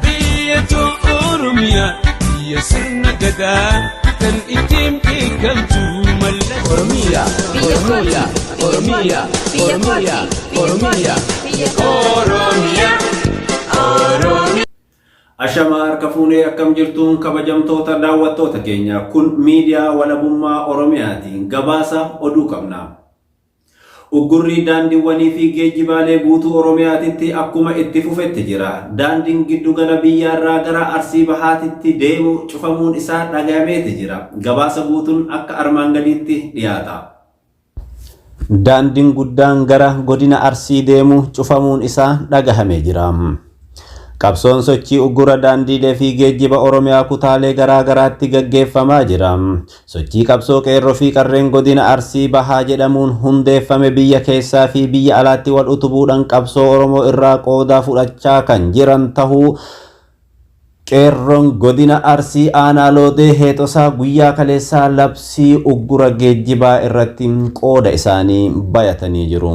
Biyya too Oromiyaa biyya sirna gadaa kan ittiin beekamtu mallattoo. Oromiya, Oromiya, Oromiya, Oromiya, Oromiya. Oromiya, Oromiya. Ashamaa harka fuunee akkam jirtuun kabajamtoota daawwattoota keenya kun miidiyaa walabummaa Oromiyaatiin gabaasa oduu qabna. Uggurri daandiwwanii fi geejjibaalee guutuu Oromiyaatitti akkuma itti fufetti jira. Daandiin giddu gala biyyaarraa gara Arsii Bahaatitti deemu cufamuun isaa dhagayameeti jira. Gabaasa guutun akka armaan gadiitti dhiyaata. Daandiin guddaan gara godina Arsii deemu cufamuun isaa dhagahame jira. Qabsoon sochii uggura daandiilee fi geejjiba Oromiyaa kutaalee garaa garaatti gaggeeffamaa jira. Sochii qabsoo qeerroo fi qarreen godina Arsii Bahaa jedhamuun hundeeffame biyya keessaa fi biyya alaatti wal utubuudhaan qabsoo Oromoo irraa qoodaa fudhachaa kan jiran tahuu Qeerroon godina Arsii aanaa Loodee Heexosaa guyyaa kaleessaa labsii uggura geejjibaa irratti qooda isaanii bayatanii jiru.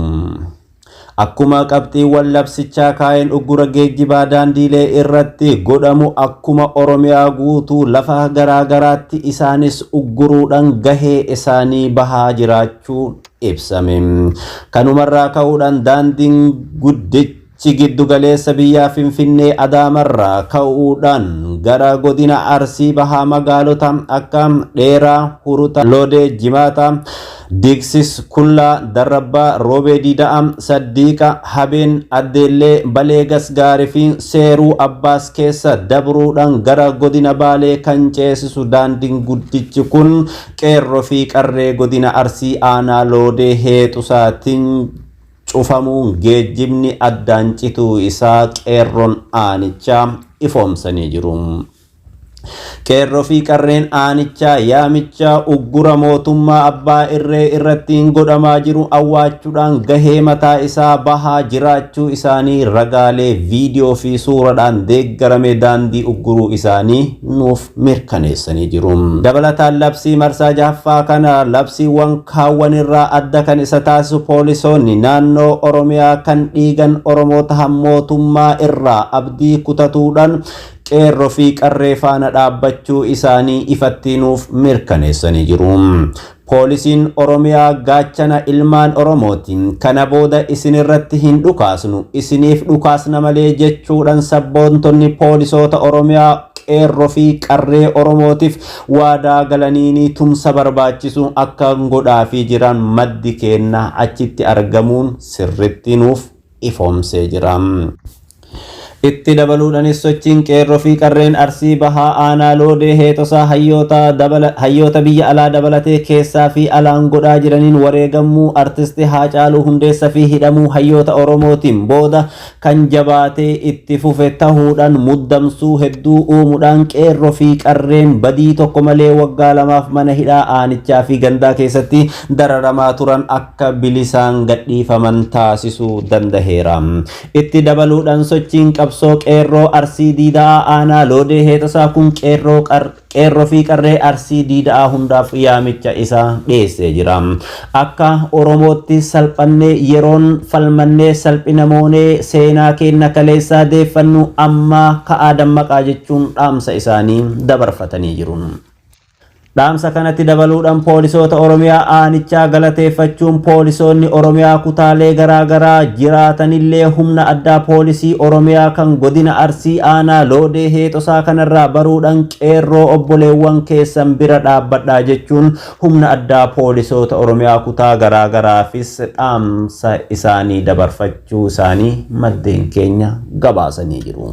Akkuma qabxiiwwan labsichaa kaa'een uggura geejjibaa daandiilee irratti godhamu akkuma Oromiyaa guutuu lafa garaa garaatti isaanis ugguruudhaan gahee isaanii bahaa jiraachuun ibsame. Kanumarraa ka'uudhaan daandiin guddichi Chi giddu galeessa biyyaa Finfinnee Adaamarraa ka'uudhaan gara godina Arsii bahaa magaalota akka Dheeraa, Hurutaa, Loodee, Jimaataa, Diigsis, Kullaa, Darrabbaa, Roobee Diida'a, Saddiiqa, Habeen, Addeellee, Balee Gasgaari fi Seeruu Abbaas keessa dabruudhaan gara godina Baalee kan ceesisu daandiin guddichi kun qeerroo fi qarree godina Arsii aanaa Loodee Heexusaatiin cufamuun geejjibni addaan cituu isaa qeerroon aanichaa ifoomsanii jiru. Qeerroo fi qarreen aanichaa yaamichaa uggura mootummaa abbaa irree irrattiin godhamaa jiru awwaachuudhaan gahee mataa isaa bahaa jiraachuu isaanii ragaalee viidiyoo fi suuradhaan deeggarame daandii ugguruu isaanii nuuf mirkaneessanii jiru. Dabalataan labsii marsaa jahaffaa kana labsiiwwan kaawwan irraa adda kan isa taasisu poolisoonni naannoo Oromiyaa kan dhiigan Oromoo tahan mootummaa irraa abdii kutatuudhaan Qeerro fi Qarree faana dhaabbachuu isaanii ifattii nuuf mirkaneessanii jiru. Poolisiin Oromiyaa gaachana ilmaan Oromooti. Kana booda isin irratti hin dhukaasnu, isiniif dhukaasna malee jechuudhan sabboontonni poolisoota Oromiyaa Qeerro fi Qarree Oromootif waadaa galaniini tumsa barbaachisu akka godhaafii jiran maddi keenna achitti argamuun sirritti nuuf ifoomsee jira. Itti dabaluudhanis sochiin qeerroo fi qarreen Arsii Bahaa Aanaa Loodee heexosaa hayyoota dabala hayyoota biyya alaa dabalatee keessaa fi alaan godhaa jiraniin wareegammuu Artisti Haacaaluu Hundeessa fi hidhamuu hayyoota Oromootiin booda kan jabaatee itti fufe tahuudhaan muddamsuu hedduu uumuudhaan qeerroo fi qarreen badii tokko malee waggaa lamaaf mana hidhaa aanichaa fi gandaa keessatti dararamaa turan akka bilisaan gadhiifaman taasisuu dandaheera. Itti dabaluudhaan sochiin qabsoo qeerroo Arsii Diida'aa Aanaa Loodee Heexasaa kun qeerroo qar qeerroo fi qarree Arsii Diida'aa hundaaf yaamicha isaa dhiyeessee jira. Akka Oromootti salphannee yeroon falmannee salphina moonee seenaa keenna kaleessaa deeffannu ammaa ka'aa dammaqaa jechuun dhaamsa isaanii dabarfatanii jiru. Dhaamsa kanatti dabaluudhan poolisoota Oromiyaa aanichaa galateeffachuun poolisoonni Oromiyaa kutaalee garaa garaa jiraatanillee humna addaa poolisii Oromiyaa kan godina Arsii aanaa Loodee Heexosaa kanarraa baruudhan qeerroo obboleewwan keessan bira dhaabbadhaa jechuun humna addaa poolisoota Oromiyaa kutaa garaa garaafis dhaamsa isaanii dabarfachuu isaanii maddeen keenya gabaasanii jiru.